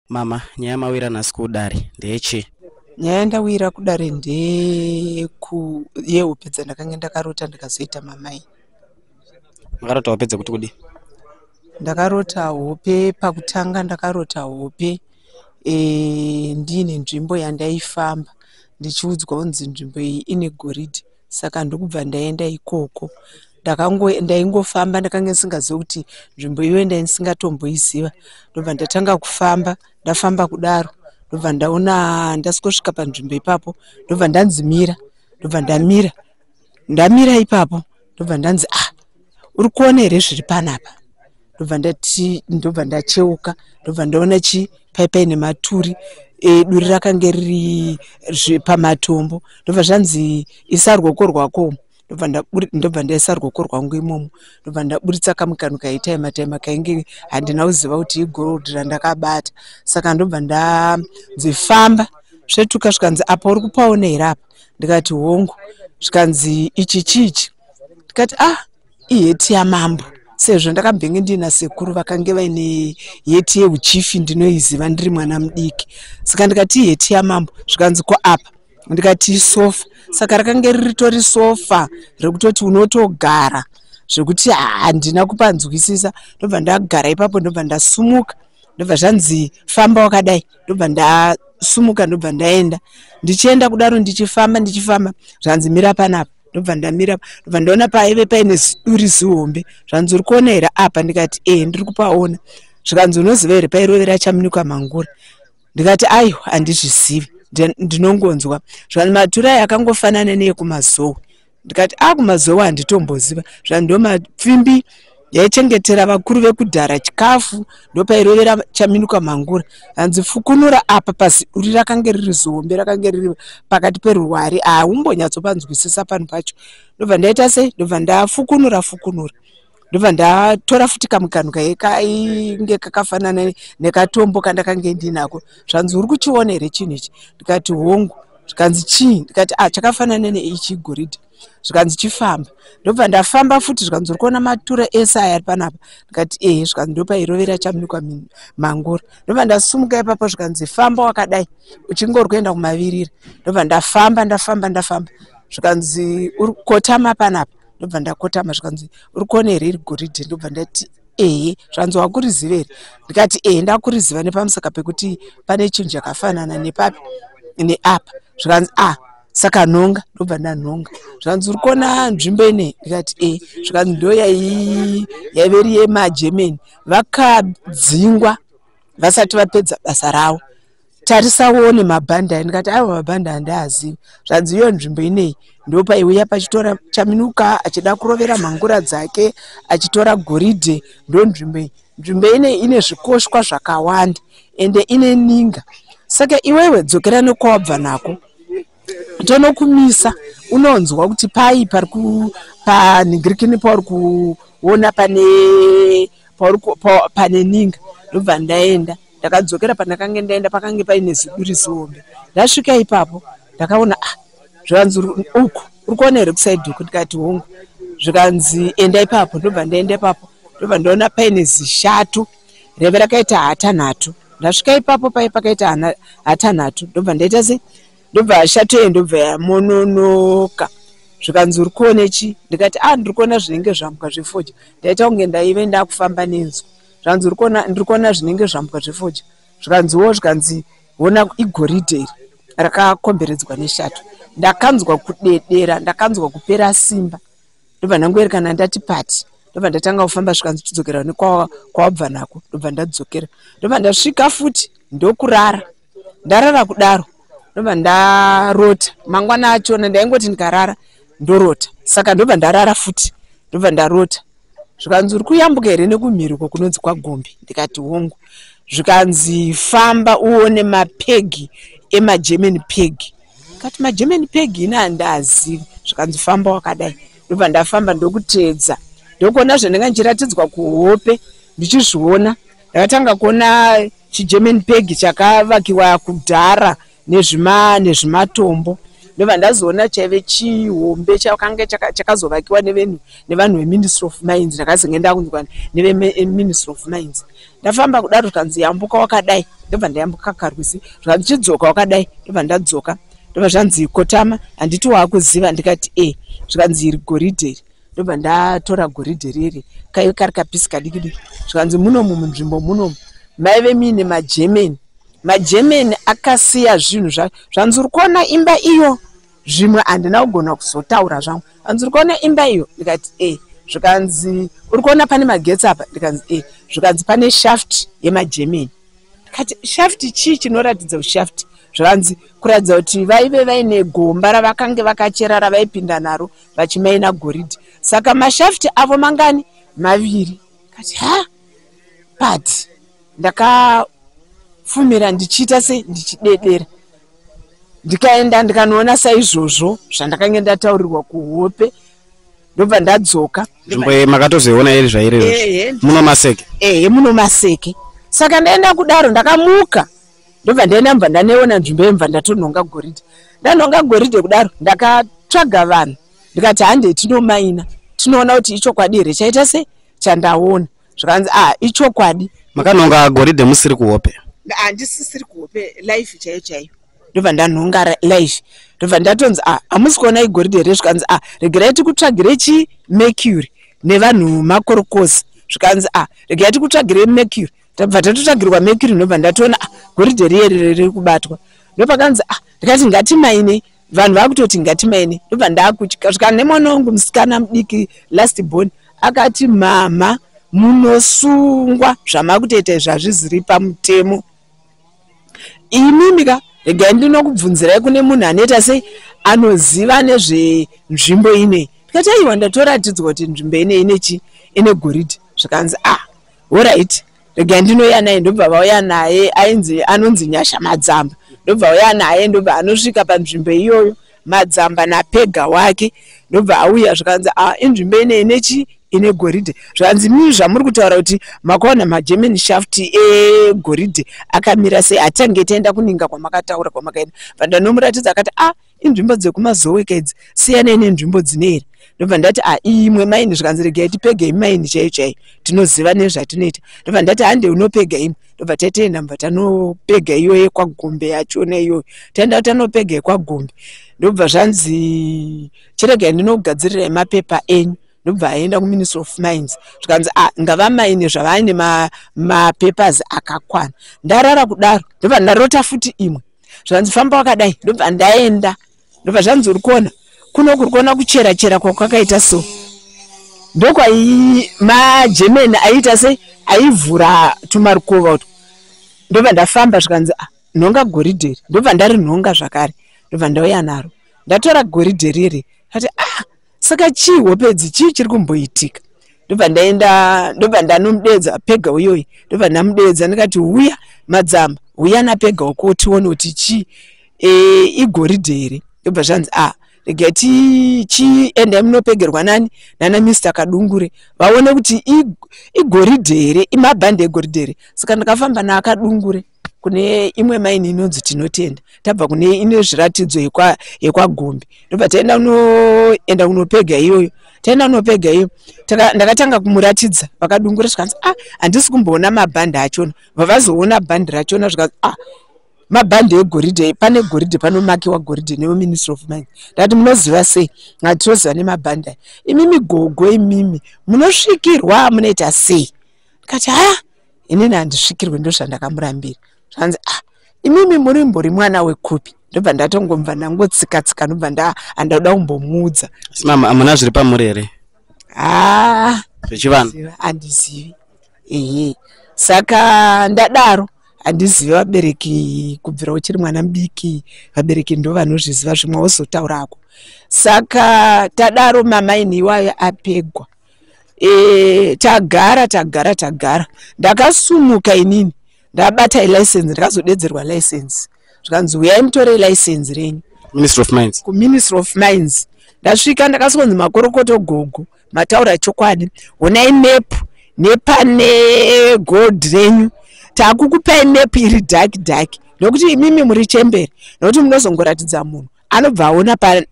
Mama, nyaya mawira nhasi kudare ndechi? Nyaya yandawira kudare ndeku yehope dzandakanga ndakarota ndikazoita mamai. Makarota hope dzekuti kudi? Ndakarota hope pakutanga ndakarota hope e, ndiine nzvimbo yandaifamba ndichiudzwa kunzi nzvimbo iyi ine goridhe saka ndokubva ndaenda ikoko ndaingofamba ndakanga ndisingazivi kuti nzvimbo iyoyo ndaisingatomboiziva ndobva ndatanga kufamba ndafamba kudaro ndobva ndaona ndasvika panzvimbo ipapo ndobva ndanzi mira ndobva ndamira ndamira ipapo ndobva ndanzi ah uri kuona here zviri panapa ndobva ndati ndobva ndacheuka ndobva ndaona chi paipai nematuri e, duri rakange riri pamatombo ndobva zvanzi isa rwoko rwako ndobva ndaisa rwoko rwangu imomo ndobva ndaburitsa kamwe kanhu kaitaima taima kainge handina kuziva kuti igold randakabata saka ndobva ndadzifamba svetuka zvikanzi apa uri kupaona here apa ndikati hongu zvikanzi ichi chichi tikati ah iheti yamambo sezvo ndakambenge ndiina sekuru vakange vaine heti yeuchifi ndinoiziva ndiri mwana mudiki saka ndikati iheti yamambo zvikanzi ko apa ndikati isofa saka rakange riritori sofa rekutoti unotogara zvekuti handina kupanzwisisa ndobva ndagara ipapo ndobva ndasumuka ndobva zvanzi famba wakadai ndobva ndasumuka ndobva ndaenda ndichienda kudaro ndichifamba ndichifamba zvanzi mira panapa ndobva ndamira ndobva ndaona paive paine ziduri zihombe zvanzi uri kuona here apa ndikati ee eh, ndiri kupaona zvikanzi unoziva here pairovera chamunikwa mangura ndikati aiwa handizvizivi ndinongonzwa zvikanzi maturai akangofanana neyekumazowe ndikati akumazowe ah, handitomboziva zvandomapfimbi yaichengetera vakuru vekudhara chikafu ndopairovera chaminuka mhangura hanzi fukunura apa pasi uri rakange riri zihombe rakange riri pakati peruwari haumbonyatsopanzwisisa panhu pacho ndobva ndaita sei ndobva ndafukunura fukunura ndobva ndatora futi kamwe kanhu kaye kainge kakafanana nekatombo kandakange ndinako zvanzi uri kuchiona here chinhu ichi ndikati hongu zvikanzi chii ndikati a ah, chakafanana neichi goridhe zvikanzi chifamba ndobva ndafamba futi zvikanzi uri kuona matura ese aya ari panapa ndikati ehe zvikanzi ndopairovera chamunikwa mangura ndobva ndasumuka ipapo zvikanzi famba wakadai uchingori kuenda kumavirira ndobva ndafamba ndafamba ndafamba zvikanzi uri kotama panapa ndobva ndakotama zvikanzi uri kuona here iri goridhe ndobva ndati ehe zvanzi wakuriziva here ndikati ehe ndakuriziva nepamusaka pekuti pane chinhu chakafanana nepapi neapa zvikanzi a ah, saka anhonga ndobva ndanhonga zvanzi uri kuona nzvimbo inei ndikati e zvikanzi ndo yaive iri yemagermany vakadzingwa vasati vapedza basa ravo tarisawone mabhandi ayo ndikati aiwa mabhandi handiazivi zvanzi iyo nzvimbo inei ndopaiuya pachitora chaminuka achida kurovera mhangura dzake achitora goridhe ndo nzvimbo iyi nzvimbo inei ine zvikoshwa zvakawanda ende ine ninga saka iwewe dzokera nekwawabva nako tonokumisa unonzwa kuti pai pari panhingirikini pauri kuona pane pauri pane ninga ndobva ndaenda ndakadzokera pandakange ndaenda pakange paine ziduri zihombe ndasvika ipapo ndakaona ah zvikanzi uku uri kuona here kusaidi uku ndikati hongu zvikanzi enda ipapo ndobva ndaenda ipapo ndobva ndaona paine zishatu raive rakaita hatanhatu ndasvika ipapo paye pakaita hatanhatu ndobva ndaita se ndobva hashato yeye ndobva yamononoka zvikanzi uri kuone chi ndikati a ah, ndiri kuona zvinenge zvambwa zvefoja ndaita kunge ndaive ndakufamba nenzwi zvikanzi ndiri kuona zvinenge zvambwa zvefoja zvikanziwo zvikanzi ona igoridhe iri rakakomberedzwa neshato ndakanzwa kudedera ndakanzwa kupera simba ndobva ndangoerekana ndati pati ndobva ndatanga kufamba svika ndichidzokera ne kwawabva nako ndobva ndadzokera ndobva ndasvika futi ndokurara ndarara kudaro ndobva ndarota mangwana achona ndaingoti ndikarara ndorota saka ndobva ndarara futi ndobva ndarota zvikanzi uri kuyambuka here nekumhiruko kunonzi kwagombi ndikati hongu zvikanzi famba uone mapegi emagerman pegi kati magerman peg ini handaazivi zvikanzi famba wakadai ndobva ndafamba ndokuteedza ndokuona zvandanga ndichiratidzwa kuhope ndichizviona ndakatanga kuona chigerman peg chakavakiwa kudhara nezvimatombo ndobva ndazoona chaive chihombe chakange chakazovakiwa nevanhu veministry of mines ndakazenge ndakunzwa neveministry of mines ndafamba kudaro zvikanzi yambuka wakadai ndobva ndayambuka karwizi zvikanzi chidzoka wakadai ndobva ndadzoka ndobva zvanzi kotama handiti waakuziva ndikati e zvikanzi iri goridhe iri ndobva ndatora goridhe riri kaive kari kapisi kadiki diki zvikanzi munomu munzvimbo munomu maive muine magermany magermany akasiya zvinhu zvanzi uri kuona imba iyo zvimwe handina kugona kuzotaura zvangu hanzi uri kuona imba iyo ndikati e eh. zvikanzi uri kuona pane magetsi apa ndikanzi e eh. zvikanzi pane shaft yemagermany ndikati shaft chii chinoratidza kuti shaft zvikanzi kuratidza kuti vaive vaine gomba ravakange vakachera ravaipinda naro vachimaina goridhi saka mashafti avo mangani maviri kati ha but ndakafumira ndichiita sei ndichidedera ndikaenda ndikanoona saizvozvo zvandakange ndataurirwa kuhope ndobva ndadzoka nzvimbo iyi makatozoiona iri zvairi muno maseke ehe muno maseke saka ndaenda kudaro ndakamuka ndobva ndaenda mva ndaneona nzvimbo yemva ndatonhonga goridhe ndanhonga goridhe kudaro ndakatsvaga vanhu ndikati handei tinomaina tinoona kuti ichokwadi here chaita sei chandaona zvikanzi a ah, ichokwadi makanonga goridhe musiri kuhope handisisiri kuhope life chaiyo chaiyo ndobva ndanhonga life ndobva ndatonzi a ah, hamusi kuona igoridhe here zvikanzi a ah, regerai tikutsvagire chi mercury nevanhu makorokosi zvikanzi a regerai tikutsvagire mercury tabva tatotsvagirwa mercury ndobva ndatoona goridhe riye riri kubatwa ndopakanzi a ndikati ngatimainei vanhu vakutoti ngatimaine ndobva ndakutya zvika nemwana wangu musikana mudiki last born akati mhamha munosungwa zvamakutoita izvi hazviziri pamutemo imimika regai ndinokubvunzirai kune munhu anoita sei anoziva nezvenzvimbo inei ndikati aiwa ndatoratidzwa kuti nzvimbo inei ine chii ine goridhe zvikanzi ah horit regai ndinouya naye ndobva vauya naye ainzi anonzi nyasha madzamba ndobva auya naye ndobva anosvika panzvimbo iyoyo madzamba napega wake ndobva auya zvikanzi a ah, inzvimbo inei nechi ine goridhe zvikanzi mii zvamuri kutaura kuti makaona magerman shaft egoridhe akamira sei hatange taenda kuninga kwamakataura kwamakaenda vandandomuratidza akati a ah, inzvimbo dzekumazowe ka idzi siyanei nenzvimbo dzine here ndobva ndati a ah, imwe maini zvikanzi regai tipega imi maini chaiyo chaiyo tinoziva nezvatinoita ndobva ndati hande unopega imwe ndobva tatoenda mva tanopega iyo yekwagombe yachona iyoyo taenda kuti tanopega yekwagombe ndobva zvanzi chiregai ndinogadzirira emapepa enyu ndobva aenda kuministry of mines zvikanzi ah, ngava maine zvavaine mapapers ma akakwana ndarara kudaro ndobva ndarota futi imwe zvanzi famba wakadai ndobva ndaenda ndobva zvanzi uri kuona kuno kuri kuona kuchera chera kwakwakaita so ndokwai magerman aiita sei aivhura tumarukova utwo ndobva ndafamba zvikanzi ah, nhonga goridhe iri ndobva ndarinhonga zvakare ndobva ndauya naro ndatora goridhe riri kati ah saka chii hope idzi chii chiri kumboitika ndobva ndaenda ndobva ndanomudeedza pega uyoyi ndobva ndamudeedza ndikati huya madzamba huya napega uko tione kuti chii e, igoridhe here ndobva zvanzi a ah, rega tichienda munopegerwa nani nana mister kadungure vaone kuti igoridhe here imabhande egoridhe here saka ndakafamba naakadungure kune imwe maini inonzi tinotenda tabva kune ine zviratidzo yekwagombe ndobva taenda unoenda kunopega iyoyo taenda unopega iyo ndakatanga kumuratidza vakadungura zvikanzi a ah, handisi kumboona mabhandi achona vavazoona bhandi rachona zvikanzi a ah, mabhandi egoridhe pane goridhe panomakiwa goridhe neveministry of mind ndati munoziva sei ngati tinoziva nemabhandi aya imimi gogo imimi munosvikirwa munoita sei kati haa inini handisvikirwe ndozvandakamurambira zvanzi ah imimi murimbori mwana wekupi ndobva ndatongomva ndangotsika tsika ndobva nda handakuda kumbomuudza mama amuna zviri pamuri here haa ah, zvechivanhu handizivi ehe saka ndadaro handizivi vabereki kubvira uchiri mwana mudiki vabereki ndo vanozviziva zvimwe wozotaurako saka tadaro mamaini iwayo apegwa e, tagara tagara tagara ndakasumuka inini ndabata ilicense ndakazodedzerwa license zvikanzi huyai mutore ilicense renyu ministry of mines kuministry of mines ndasvika ndakasonzi makorokoto gogo mataura chokwadi honai map nepane gold renyu takukupai map iri dark dark nokuti imimi muri chembere nokuti munozongoratidza munhu anobva aona pa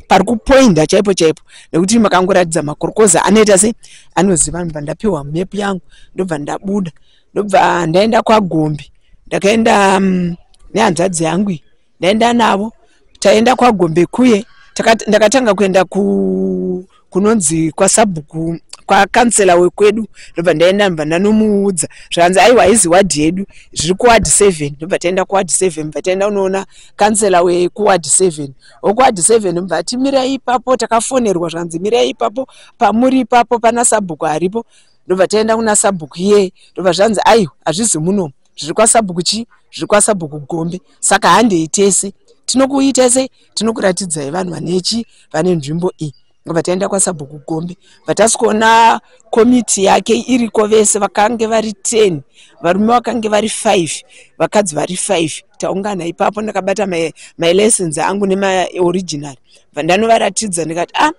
pari kupoinda chaipo chaipo nekuti makangoratidza makorokoza anoita se anoziva ndobva ndapiwa map yangu ndobva ndabuda ndobva ndaenda kwagombe ndakaenda um, nehanzvadzi yangu iyi ndaenda navo taenda kwagombe kuye takati- ndakatanga kuenda ku kunonzi kwasabhuku kwakansela wekwedu ndobva ndaenda ndobva ndanomuudza zvikanzi aiwa haizi ward yedu zviri kuward seven ndobva taenda kuward seven bva taenda unoona kansela wekuward seven wekuward seven ndobva ati mirai ipapo takafonerwa zvikanzi mirai ipapo pamuri ipapo pana sabhuku aripo ndobva taenda kuna sabhuku iyeye ndobva zvanzi aiwa hazvizi munomu zviri kwasabhuku chii zviri kwasabhuku gombe saka handei tese tinokuita sei tinokuratidzai vanhu vanechi vane nzvimbo iyi vataenda kwasabhuku gombe vatasi kuona komiti yake iriko vese vakange vari ten varume vakange vari five vakadzi vari five taungana ipapo ndakabata mylessons angu nemaoriginal vandanovaratidza ndikati a ah,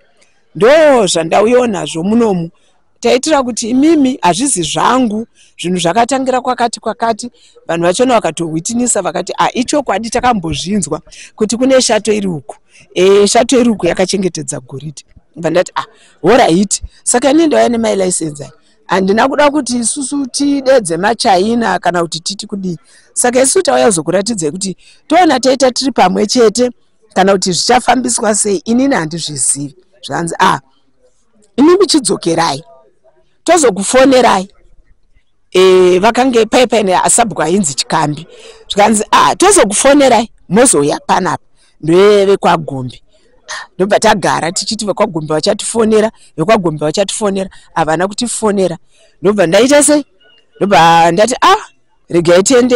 ndo zvandauyo nazvo munomu taitira kuti imimi hazvizi zvangu zvinhu zvakatangira kwakati kwakati vanhu vachona vakatohwitinisa vakati a ah, ichokwadi takambozvinzwa kuti kune shato iri uku e, shato iri uku yakachengetedza goridhe vandati a ah, horaiti saka ini ndauya nemai license handina kuda kuti isusu tidedze machina kana kuti titi kudii saka isu tauya kuzokuratidzai kuti toona taita tiri pamwe chete kana kuti zvichafambiswa sei inini handizvizivi zvanzi a ah, imimi chidzokerai tozokufonerai e, vakange paye paine asabhuku ainzi chikambi zvikanzi ah, tozokufonerai mozouya panapa ndoyevekwagombe ndobva tagara tichiti vekwagombe vachatifonera vekwagombe vachatifonera havana kutifonera ndobva ndaita sei ndobva ndati a ah, regai tiende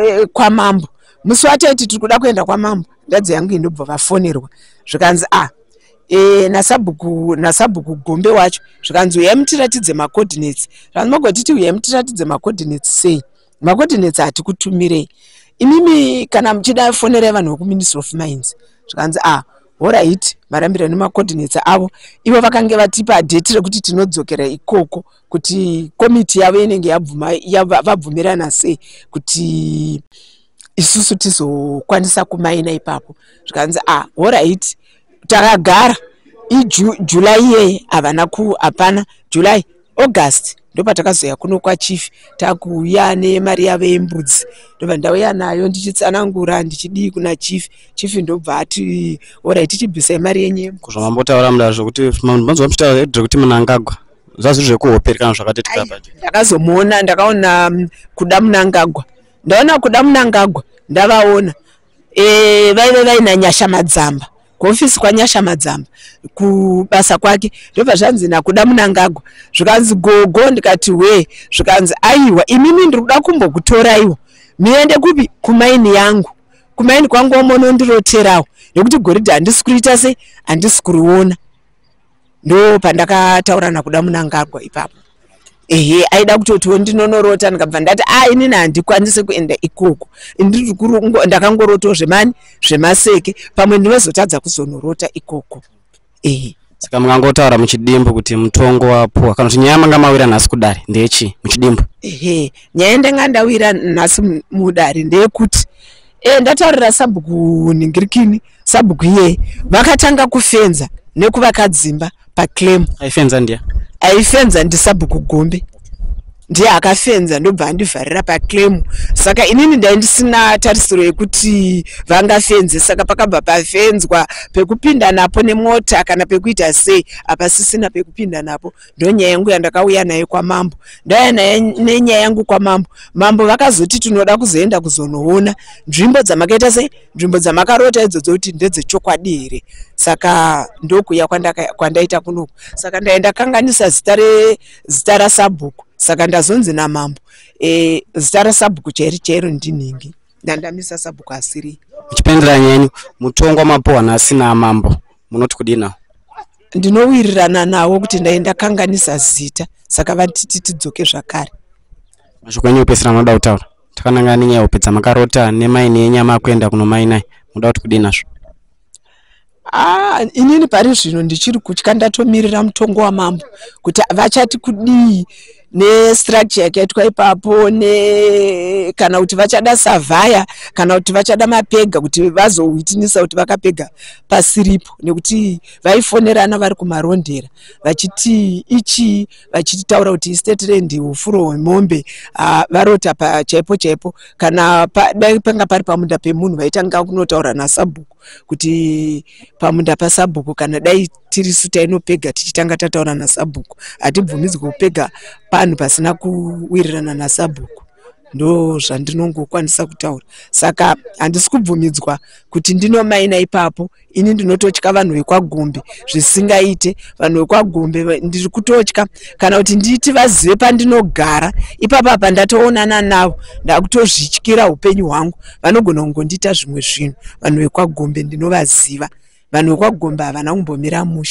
eh, kwamambo musi wataiti tiri kuda kuenda kwamambo ndadzi yangu indobva vafonerwa zvikanzi a ah, e, eh, nasabhuku nasabhuku gombe wacho zvikanzi uyai mutiratidze macoordinates zvikanzi magotiti uyai mutiratidze macoordinates sei macoordinates hatikutumirei imimi kana muchida fonerai vanhu vekuministry of mines zvikanzi a ah, horait varambira nemacoordinates avo ivo vakange vatipa dheti rekuti tinodzokera ikoko kuti komiti yavo inenge yabvumirana sei kuti isusu tizokwanisa kumaina ipapo zvikanzi a ah, horit takagara ijuly iyeye havana ku hapana july august ndopatakazoya kuno kwachief takuuya nemari yavo yembudzi ndobva ndauya nayo ndichitsanangura ndichidii kuna chief chief ndobva ati orit tichibvisa imari yenyu yembudzi kuzvamambotaura mudazvo kuti manzwa muchitaura kuti munangagwa zvazviri zvekuhoperi kana zvakati tikabati ndakazomuona ndakaona mm, kuda munangagwa ndaona kuda munangagwa ndavaona Eh, vaive vaina nyasha madzamba kuofisi kwanyasha madzamba kubasa kwake ndobva zvanzi nakuda munangagwa zvikanzi gogo ndikati wee zvikanzi aiwa imimi ndiri kuda kumbokutoraiwo muende kupi kumaini yangu kumaini kwangu wamonondiroterawo nekuti goridhe handisi kuriita sei handisi kuriona ndo pandakataura nakuda munangagwa ipapo ehe aida kutotiwo ndinonorota ndikabva ndati a ah, inini handikwanise kuenda ikoko ndakangorotawo zvemani zvemaseke pamwe ndinozotadza kuzonorota ikoko ehe saka mungangotaura muchidimbu kuti mutongo wapuwa kana kuti nyaya manga mawira nhasi kudare ndeyechii muchidimbu ehe nyaya ndanga ndawira nhasi mudare ndeyekuti e, ndataurira sabhuku ningirikini sabhuku iyeye vakatanga kufenza nekuvaka dzimba paclaim aifenza ndiya aifenza ndisabhuku gombe ndiye akafenza ndobva andivharira paclaim saka inini ndai ndisina tarisiro yekuti vangafenze saka pakabva pafenzwa pekupinda napo nemota kana pekuita sei hapasisina pekupinda napo ndonyaya yangu yandakauya nayo kwamambo ndauya nenyaya yangu kwamambo mambo vakazoti tinoda kuzoenda kuzonoona nzvimbo dzamakaita sei nzvimbo dzamakarota idzodzo kuti ndedzechokwadi here saka ndokuya kwandaita kunoku saka ndaenda kanganisa zita rezita rasabhuku saka ndazonzi namambo e, zita rasabhuku chairi chairo ndinhingi ndandamisa sabhuku asiri muchipendera nyenyu mutongwa mapuhwa nhasi namambo munoti kudina ndinowirirana nawo kuti ndai ndakanganisa zita saka vatiti tidzoke zvakare mashoko enyu opesera munoda kutaura takanangana nenyaya hope dzamakarota nemaini yenyama akuenda kunomainai munoda kuti kudii nazvo Ah, inini pari zvino ndichiri kutya ndatomirira mutongo wamambo kuti vachati kudii nestructure yakaitwa ipapo ne kana kuti vachada savhaya kana kuti vachada mapega kuti vazohwitinisa kuti vakapega pasiripo nekuti vaifonerana vari kumarondera vachiti ichii vachitaura kuti istate rend hufuro hwemombe ah, varota pachaipo chaipo kana dai panga pari pamunda pemunhu vaitanga kunotaura nasabhuku kuti pamunda pasabhuku kana dai tiri su tainopega tichitanga tataura nasabhuku hatibvumidzwe kupega panhu pasina kuwirirana nasabhuku ndo zvandinongokwanisa kutaura saka handisi kubvumidzwa kuti ndinomaina ipapo ini ndinototya vanhu vekwagombe zvisingaite vanhu vekwagombe ndiri kutotya kana kuti nditi vazive pandinogara ipapa apa ndatoonana navo ndakutozvityira upenyu hwangu vanogona kungondiita zvimwe zvinhu vanhu vekwagombe ndinovaziva vanhu vekwagombe havana kumbomira mushe